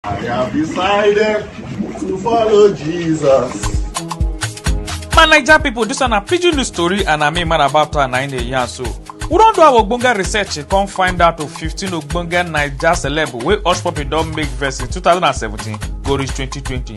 I have decided to follow Jesus. my naija pipo dis one na pidgin news tori and na me man about town na im dey yarn so we don do our ogbonge research e come find out of fifteen ogbonge naija celeb wey hush puppy don make verse in two thousand and seventeen go reach twenty twenty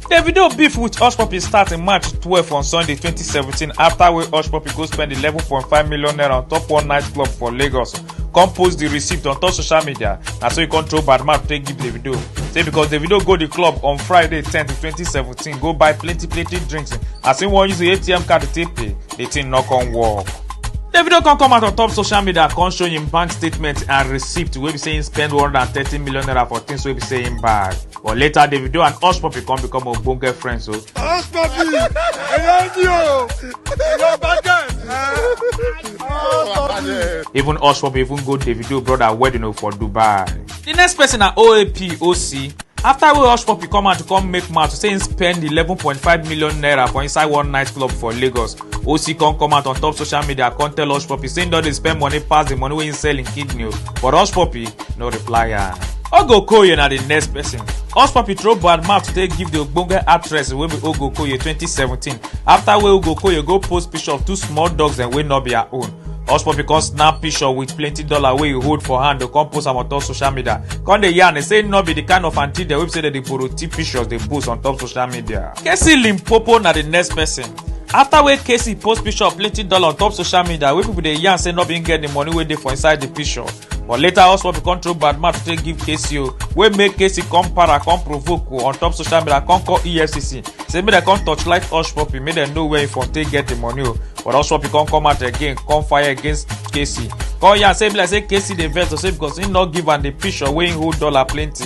davido beef wit hushpuppi start in march twelve on sunday twenty seventeen afta wey hushpuppi go spend eleven point five million naira on top one nightclub for lagos come post di receipt on top social media na so e come throw bad mouth take give davido say because davido go di club on friday ten twenty seventeen go buy plenty plenty drinks as im wan use im atm card take pay di thing no come work. davido come come out on top social media come show im bank statement and receipt wey be say im spend one hundred and thirty million naira for things wey be say im buy. But later, Davido and Hush Puppy come become ogbonge friends. So Hush Puppy, I love you. I love Bagan. even Hush Puppy even go Davido brother wedding oh, for Dubai. The next person na OAP OC. After wey Hush Puppy come out to come make mouth say him spend 11.5 million naira for inside one night club for Lagos, OC come come out on top social media come tell Hush Puppy say him don dey spend money pass the money wey him sell him kidney o. But Hush Puppy no reply am. ogo okoye na di next pesin us papi throw bad mouth today give di ogbonge actress wey be ogo okoye 2017 afta wey ogo okoye go post picture of two small dogs dem wey no be her own us papi come snap picture with plenty dollar wey e hold for hand to come post am on top social media come dey yarn say no be di kind of aunty dem wey be say dem dey borrow tip pictures dey post on top social media casey limpopo na di next pesin afta wey casey post picture of plenty dollar on top social media wey pipo dey yarn say no bin get di money wey dey for inside di picture but later hotspot bin come throw bad mouth to take give casey o wey make casey come para come provoke o on top social media come call efcc say make dem come torchlight hushpuppi make dem know where he for take get the money o but hushpuppi come come out again come fire against casey come yarn say e be like say casey dey vex o say because he no give am the picture wey he hold dollar plenty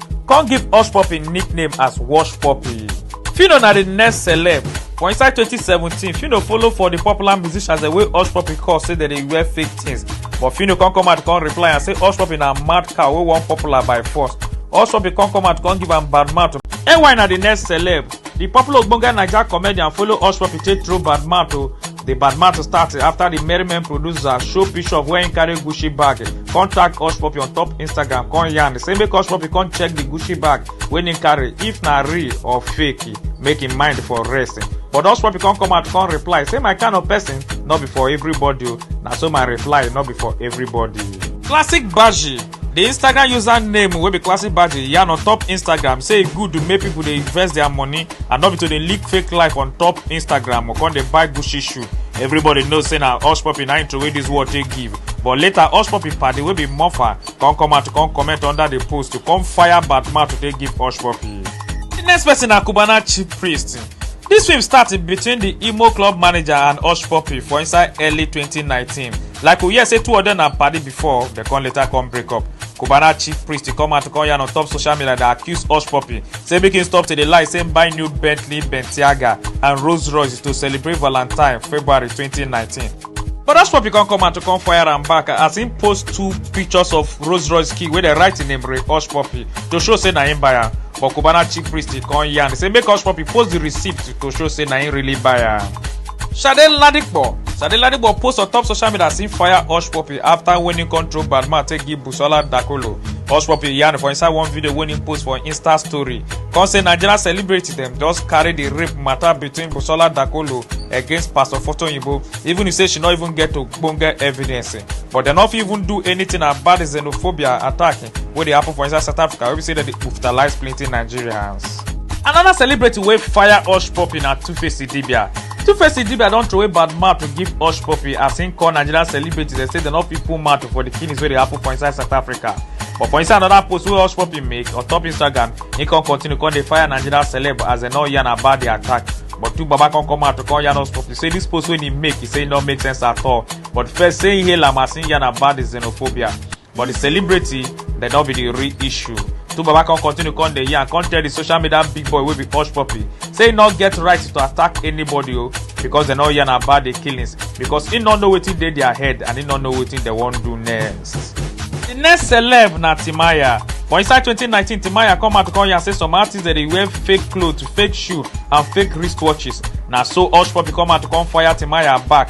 come give Hush Puppy nickname as Wash Puppy. Phyno na the next celeb. For inside 2017, Phyno follow for the popular musicians the way Hush Puppy call say dem dey wear fake things. But Phyno come come out come reply and say Hush Puppy na mad cow wey wan popular by force. Hush Puppy come come out come give am bad mouth. NY na the next celeb. The popular ogbonge Naija comedian follow Hush Puppy take throw bad mouth o. The bad matter start after the Merryman producer show picture of where he carry Gucci bag. Contact Hush Puppy on top Instagram, con yarn. Say make Hush Puppy come check the Gucci bag when he carry, if na real or fake, make him mind for rest. But Hush Puppy come come out, come reply. Say my kind of person, not be for everybody. o. Na so my reply, not be for everybody. Classic Baji. di instagram username wey be classic badge yarn on top instagram say e good to make pipo dey invest dia money and no be to dey lick fake life on top instagram or con dey buy gucci shoe everybody know say na hush puppy na intro wey dis world take give but later hush puppy party wey be muffa con come out con comment under di post to come fire batman to take give hush puppy di next person na cubana chief priest dis film start between di imo club manager and hush puppy for inside early 2019 like we hear say two of dem na padi before dem come later come break up cubana chief priest come out come yarn on top social media dey accuse hush puppy say make him stop to dey lie say him buy new bentley bentiaga and rolls royce to celebrate valentine february 2019 but hush puppy come come out to come fire am back as him post two pictures of rolls royce key wey dey write him name re hush puppy to show say na him buy am but cubana chief priest dey come yarn say make hush puppy post the receipt to show say na him really buy am. Sade Ladipo Sade Ladipo post on top social media as him fire Hush Puppy after when him come throw bad man take give Busola Dakolo. Hush Puppy yarn for inside one video wey him post for Insta story. Come say Nigerian celebrity dem just carry the rape matter between Busola Dakolo against Pastor Foto Oyinbo even if say she no even get ogbonge evidence. But dem no fit even do anything about the xenophobia attack wey dey happen for inside south africa wey be say dem dey brutalize plenty nigerians. another celebrity wey fire hush puppy na tuface idibia tuface idibia don throway bad mouth to give hush puppy as im call nigerian celebrity dem say dem no fit put mouth for the killings wey dey happen for inside south africa but for inside another post wey hush puppy make on top instagram he come continue come dey fire nigerian celeb as dem no yarn about the attack but two baba come come out to come yarn hush puppy say this post wey he make he say e no make sense at all but first say he hail am as he yarn about the xenophobia but di celebrity dem no be di real issue two baba come continue come dey yarn come tell di social media big boy wey be hush puppy say e no get right to attack anybody o because dem no yarn about di killings because e no know wetin dey dia head and e no know wetin dem wan do next. di next celeb na timaya for inside 2019 timaya come out come yarn say some artists dey dey wear fake clothes fake shoe and fake wristwatches na so hush puppy come out come fire timaya back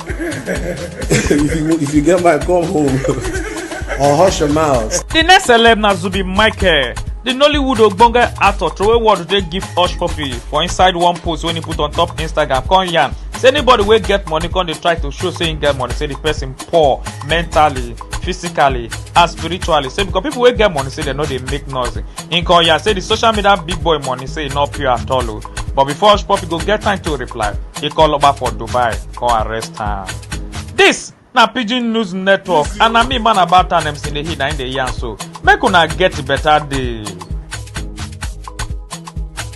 if, you, if you get my come home or hush your mouth. The next celeb na Zubi Michael. The Nollywood ogbonge actor throway word dey give Hush Puppy for inside one post wey he put on top Instagram come yarn say anybody wey get money come dey try to show say he get money say the person poor mentally physically and spiritually say because people wey get money say dem no dey make noise he come yarn say the social media big boy money say e no pure at all o But before Hush Puppy go get time to reply, he call Oba for Dubai, come arrest am. This na Pidgin News Network and na me man about an MC Nehi na im dey yarn so. Make una get better day.